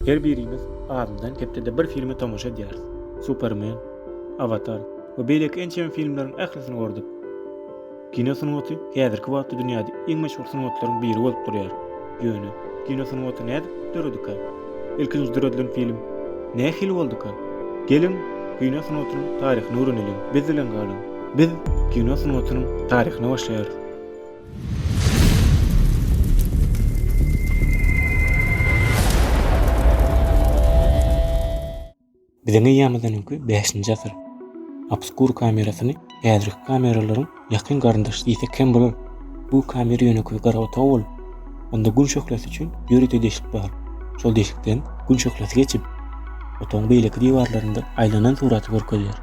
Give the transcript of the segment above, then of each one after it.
Her birimiz azyndan hepdede bir filme tomaşa edýäris. Supermen, Awatar we beýleki ençeme filmleriň ählisini gördük. Kino sungaty häzirki wagtda dünýäde iň meşhur sungatlaryň biri bolup durýar. Ýöne kino sungaty nädip döredikä? Ilkinji döredilen film nähili bolduka? Geliň, kino sungatynyň taryhyny öwreneliň, biz bilen galyň! Biz kino sungatynyň taryhyny başlaýarys. Biziň eýýamyzyňky bäşinji asyr. Obskur kamerasyny häzirki kameralaryň ýakyn garyndaşy diýsek hem bolar. Bu kamera ýönekeý gara otag bolup, onda gün şöhlesi üçin ýörite deşik bar. Şol deşikden gün şöhlesi geçip, otagyň beýleki diwarlarynda aýlanan suraty görkezýär.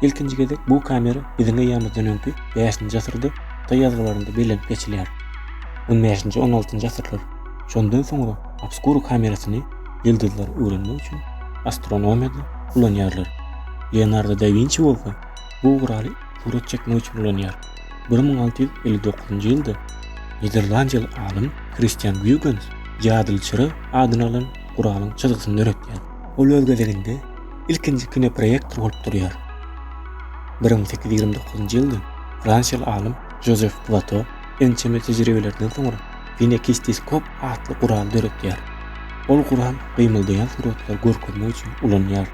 Ilkinji gezek bu kamera biziň eýýamyzdan öňki bäşinji asyrda hytaý ýazgylarynda bellenip geçilýär. On bäşinji, on altynjy asyrlar. Şondan soňra obskura kamerasyny ýyldyzlary öwrenmek üçin astronomiýada ulanýarlar. Leonardo da Winçi bolsa bu guraly surat çekmek üçin ulanýar. Bir müň alty ýüz elli dokuzynjy ýylda niderlandiýaly alym Kristian Guýgens jadyly çyra adyny alan guralyň çyzgysyny döretýär. Ol öz gezeginde Ilkinji kinoproýektor bolup durýar. Bir müň sekiz ýüz ýigrimi dokuzynjy ýylda fransiýaly alym Jozef Plato ençeme tejribelerden soňra kinekisteskop atly gural döretýär. Ol gural gymyldaýan suratlary görkezmek üçin ulanýar.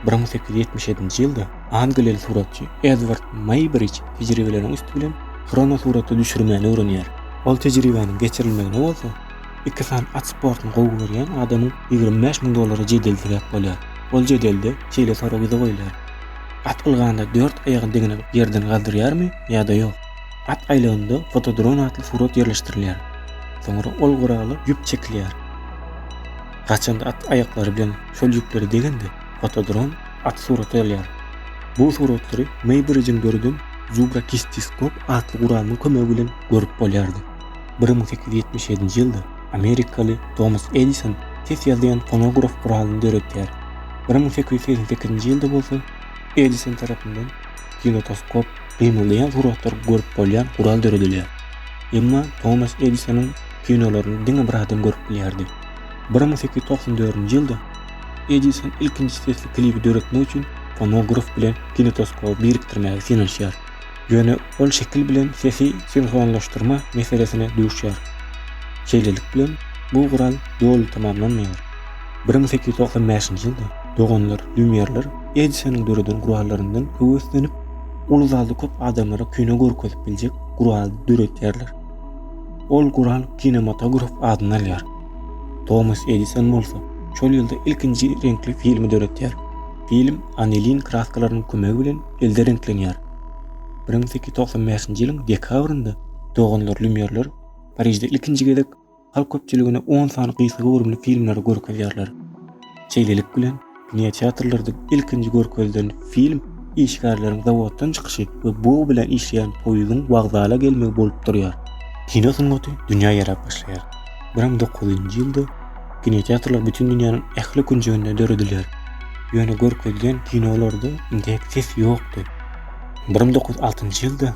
Bir müň sekiz ýüz ýetmiş ýedinji ýylda angliýaly suratçy Edward Meýbrij tejribeleriň üsti bilen hronosuraty düşürmäni öwrenýär. Ol tejribäniň geçirilmegine bolsa Iki sany at sportuny gowy görýän adamyň ýigrimi bäş müň dollara jedel sebäp bolýar. Ol jedelde şeýle sorag ýüze goýlar, At ylganda dört aýagyny degine ýerden galdyrýarmy ýa-da ýok? At aýlagynda fotodron atly surat ýerleşdirilýär. Soňra ol gurala ýüp çekilýär. Gaçanda at aýaklary bilen şol ýüplere degende, fotodron at surata alýar. Bu suratlary Meýbridžiň döreden Zubra Kistiskop atly guralynyň kömegi bilen görüp bolýardy. Bir müň sekiz ýüz ýetmiş ýedinji ýylda amerikaly Tomas Edison ses ýazýan fonograf guralyny döredýär. Bir müň sekiz ýüz segsen sekizinji ýylda bolsa Edison tarapyndan kinotoskop, gymyldaýan suratlary görüp bolýan gural döredilýär. Emma Tomas Edisonyň kinolaryny diňe bir adam görüp bilýärdi. Bir müň sekiz ýüz togsan dördünji ýylda Edison ilkinji sesli klibi döretmek üçin fonograf bilen kinotoskoby birikdirmäge synanyşýar. Ýöne ol şekil bilen sesi sinhronlaşdyrma meselesine duşýar. Şeýlelik bilen, bu gural doly tamamlanmaýar. Bir müň sekiz ýüz togsan bäşinji ýylda doganlar Lýumýerler Edisonyň döreden gurallaryndan höweslenip, uly zalda köp adamlara kino görkezip biljek gural döredýärler. Ol gural kinematograf adyny alýar. Tomas Edison bolsa şol ýylda ilkinji reňkli filmi döredýär. Film anilin kraskalarynyň kömegi bilen elde reňklenýär. bir müň sekiz ýüz togsan bäşinji ýylyň dekabrynda doganlar Lýumýerler Parižde ilkinji gezek halk köpçüligine on sany gysga göwrümli filmleri görkezýärler. Şeýlelik bilen, kinoteatrlarda ilkinji görkezilen film işgärleriň zawoddan çykyşy we bug bilen işleýän poýuzyň wokzala gelmegi bolup durýar. Kino sungaty dünýä ýaýrap başlaýar. Bram dokuzynjy ýylda kinoteatrlar bütin dünýäniň ähli künjeginde döredilýär. Ýöne görkezilen kinolarda indek ses ýokdy. Bram dokuz altynjy ýylda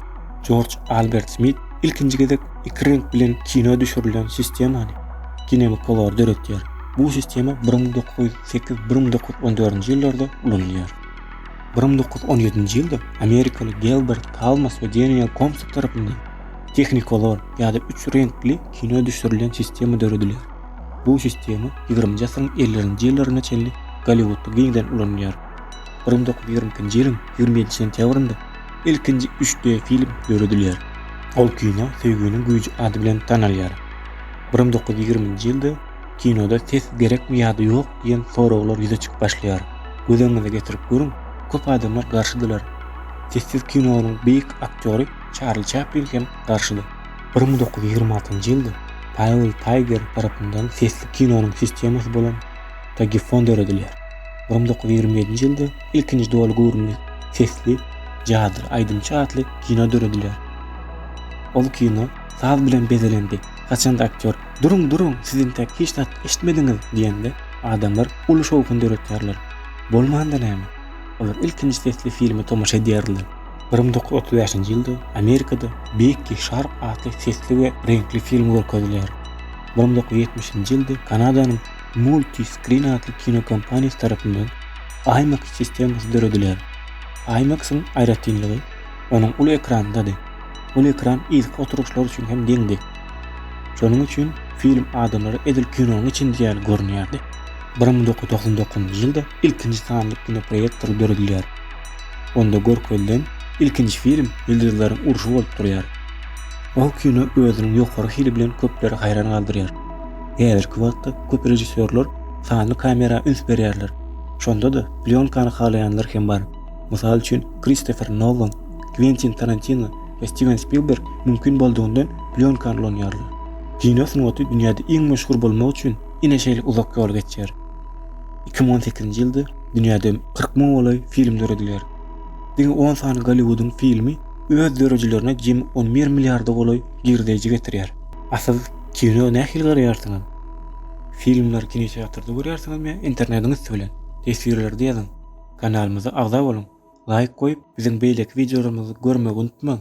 Jorj Albert Smit ilkinji gezek iki reňk bilen kino düşürilen sistemany, kinemikolar, döretýär. Bu sistema Bram dokuz sekiz, Bram dokuz on dördünji ýyllarda ulanylýar. Bram dokuz on ýedinji ýylda amerikaly Gelbert Kalmas we Deniel Komstok tarapyndan Technicolor ýa-da üç reňkli kino düşürilen sistema döredilýär. Bu sistema ýigriminji asyryň ellirinji ýyllaryna çenli Golliwudda giňden ulanylýar. Bir müň dokuz ýüz ýigrimi ikinji ýylyň ýigrimi ýedi sentýabrynda ilkinji üç D film döredilýär. Ol kino Söýginiň güýji ady bilen tanalýar. Bir müň dokuz ýüz ýigriminji ýylda kinoda ses gerekmi ýa-da ýok diýen soraglar ýüze çykyp başlaýar. Göz öňüňize getirip görüň, köp adamlar garşydylar. Sessiz kinonyň beýik aktýory Çarli Çaplin hem garşydy. Bir müň dokuz ýüz ýigrimi altynjy ýylda Paýwel Taýger tarapyndan sesli kinonyň sistemasy bolan Tagifon döredilýär. Bir müň dokuz ýüz ýigrimi ýedinji ýylda ilkinji doly göwrümli sesli Jadyr aýdymçy atly kino döredilýär. Ol kino saz bilen bezelendi. Haçanda aktýor Duruň, duruň, siz entek hiç zat eşitmediňiz diýende, adamlar uly şowhun döretýärler. Bolmanda näme? Olar ilkinji sesli filme tomaşa edýärler. Bir müň dokuz ýüz otuz bäşinji ýylda Amerikada Bekki Şarp atly sesli we reňkli film görkezilýär. Bir müň dokuz ýüz ýetmişinji ýylda Kanadanyň Multiscreen atly kino kompaniýasy tarapyndan IMAX sistemasy döredilýär. IMAX-yň aýratynlygy onuň uly ekrandady. Uly ekran yzky oturyşlar üçin hem deňdi. Şonuň üçin film adamlara edil kinonyň içindäki ýaly görünýärdi. Bir müň dokuz ýüz togsan dokuzynjy ýylda ilkinji sanly kinoproýektor döredilýär. Onda görkezilen ilkinji film Ýyldyzlaryň urşy bolup durýar. Ol kino özüniň ýokary hili bilen köpleri haýran galdyrýar. Häzirki wagtda köp režissýorlar sanly kamera üns berýärler. Şonda-da plýonkany halaýanlar hem bar. Mysal üçin, Kristofer Nolan, Kwentin Tarantino we Stiwen Spilberg mümkin boldugyndan plýonkany ulanýarlar. Kino sungaty dünýäde iň meşhur bolmak üçin ine şeýle uzak ýol geçýär. Iki müň on sekizinji ýylda Dünýäde kyrk müň golaý film döredilýär. Diňe on sany Golliwudyň filmi öz döredijilerine jemi on bir milliarda golaý girdeýji getirýär. A siz kino nähili garaýarsyňyz? Filmleri kinoteatrda görýärsiňizmi ýa internetiň üsti bilen? Teswirlerde ýazyň! Kanalymyza agza boluň! Laýk goýup, biziň beýleki wideolarymyzy görmegi unutmaň!